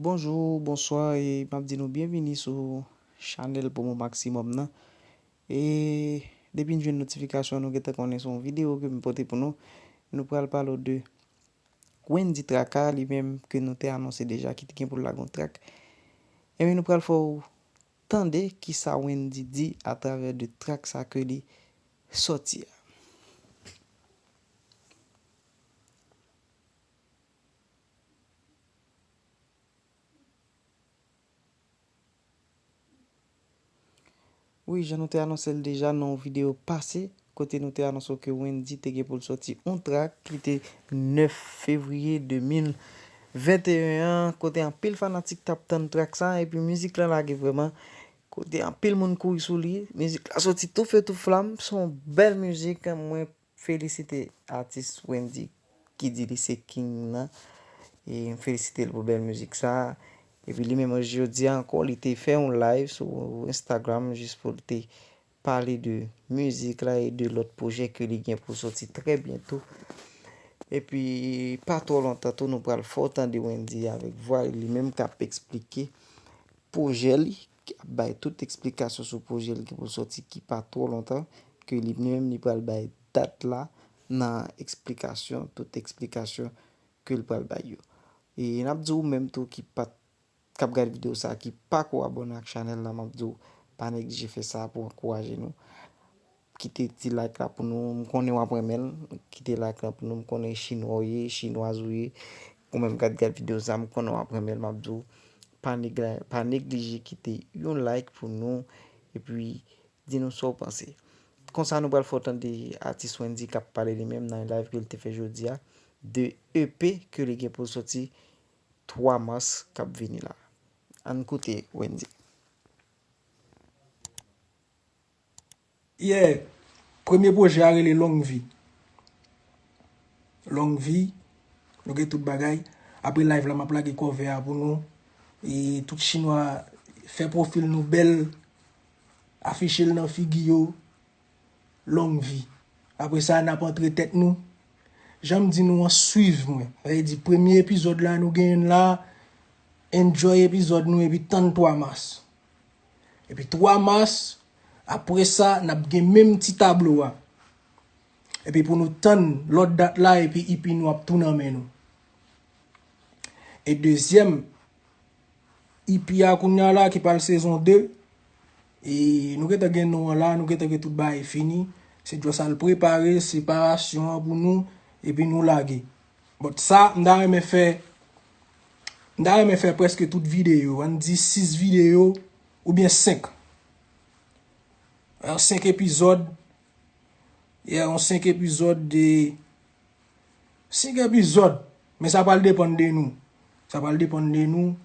Bonjour, bonsoir e map di nou byenvini sou chanèl promo maximum nan e depi n jwenn notifikasyon nou gentan konnen son video ke m pote pou nou nou pral pale w de Wendy Traka li menm ke nou te anonse deja ki t gen pou l lage yon track e nou pral fè w Tande ki sa Wendy di a travè de trak sa ke li sòti a. Wi, jan nou te anonse l deja nan yon videyo pase, kote nou te anonse w ke Wendyy te gen pou l sòti yon trak ki te 9 fevriye 2021 an, kote anpil fanatik t ap tann trak sa epi mizik lan lage vrèman, kote anpil moun kouri sou li, mizik la sòti tou fe tou flam, s on bèl mizik, mwen felisite atis Wendyy ki di li se king nan, e m felisite l pou bèl mizik sa, epi li menm jodi a ankò li te fè yon live sou Instagram jis pou l te pale de mizik la e de lòt pwojè ke li gen pou soti trè byento. Epi pa twò lontan tou nou pral fè w tande Wendyy avèk vwa li li menm k ap esplike pwojè li, k ap bay tout esplikasyon sou pwojè li ki pou soti ki pa twò lontan, ke li menm li pral bay dat la nan esplikasyon, tout esplikasyon ke l pral bay yo. E n ap di ou menm tou ki pa t kap gad video sa ki pako abòne ak chanèl la map diw pa neglije fè sa pou ankouraje nou kite ti like la pou nou m konnen wap renmenl kite like la pou nou m konnen chinwa w ye chinwaz ou ye ou menm kap gad video sa m konnen wap renmenl map diw pa negla pa neglije kite yon like pou nou epi di nou sa w panse konsa nou pral fè w tande atis Wendyy kap pale li menm nan yon live ke li te fè jodia de EP ke li gen pou l sòti 3 mas k ap vini la. Ann koute Wendy. Yeah! Premye pwojè a rele Long Vi. Long Vi, nou gen tout bagay. Apre live la m ap lage kòve a pou nou. E tout chinwa fè pwofil nou bèl, afiche l nan figi yo. Long vi. Apre sa nap antre tèt nou. Janm di nou an swiv mwen. Sa vle di premye epizòd la nou gen youn la. Enjoy epizòd nou epi tann 3 mas. Epi 3 mas apre sa nap gen menm ti tablo a. Epi pou nou tann lòt dat la epi EP nou ap tou nan men nou. E dezyèm EP a kounya la ki pral sezon 2. E nou gentan gen non an la, nou gentan gen tout bagay fini. Se just al prepare separasyon an pou nou, epi nou lage. But sa, m ta renmen fè, m ta renmen fè preske tout videyo. An di 6 videyo, oubyen 5. Yon 5 epizòd, yeah, yon 5 epizòd de, 5 epizòd. Men sa pral depann de nou. Sa pral depann de nou.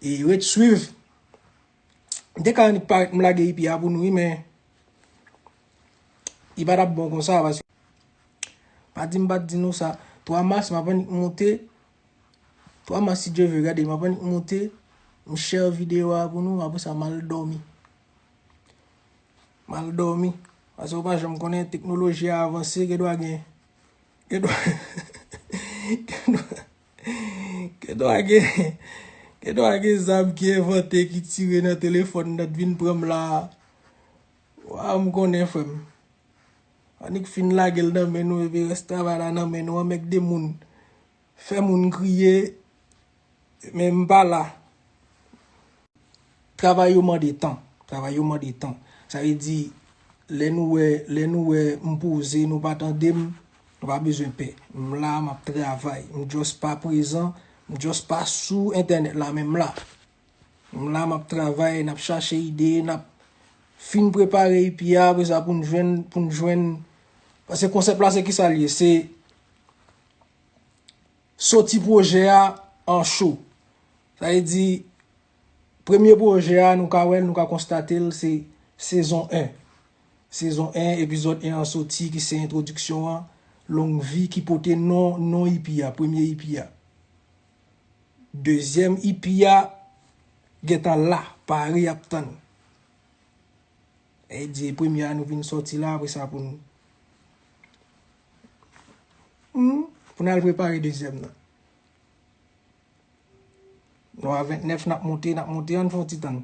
E ret swiv. M te ka annik parèt m lage EP a pou nou wi men li pa t ap bon konsa paske pa di m pa t di nou sa 3 mas m ap annik monte 3 mas si Dye ve gade m ap annik monte m share videyo a pou nou apre sa m al dòmi m al dòmi paske ou pa janm konnen teknoloji a avanse gen dwa gen gen dwa gen dwa. Gen dwa gen Gen dwa gen zam ki envante ki tire nan telefòn nan t vin pranm la Waaw m konnen frè m Annik fin lage l nan men nou epi rès travay la nan men nou anmègde moun fè moun kriye men m pa la. Travay yo mande tan. Travay yo mande tan. Sa vle di, lè nou wè, lè nou wè m poze, nou pa tande m, nou pa bezwen pè. M la, m ap travay. M just pa prezan, m just pa sou entènèt la, men m la. M la, m ap travay, n ap chache ide, n ap fin prepare epi a, apre sa pou n jwenn, pou n jwenn. Pase konsèp la se ki sa l ye? Se soti pwojè a an cho. Sa vle di, premye pwojè a nou ka wè l, nou ka konstate l se sezon 1. Sezon 1, epizòd 1 an soti ki se entwodiksyon an, Longvi ki pote non non ipi a, premye ipi a. Dezyèm ipi a gen tan la, pare ap tann. Sa vle di e premye a nou vin soti la apre sa pou n pou n al prepare dezyèm nan. Nou a 29 nap moute nap moute ann fon ti tann.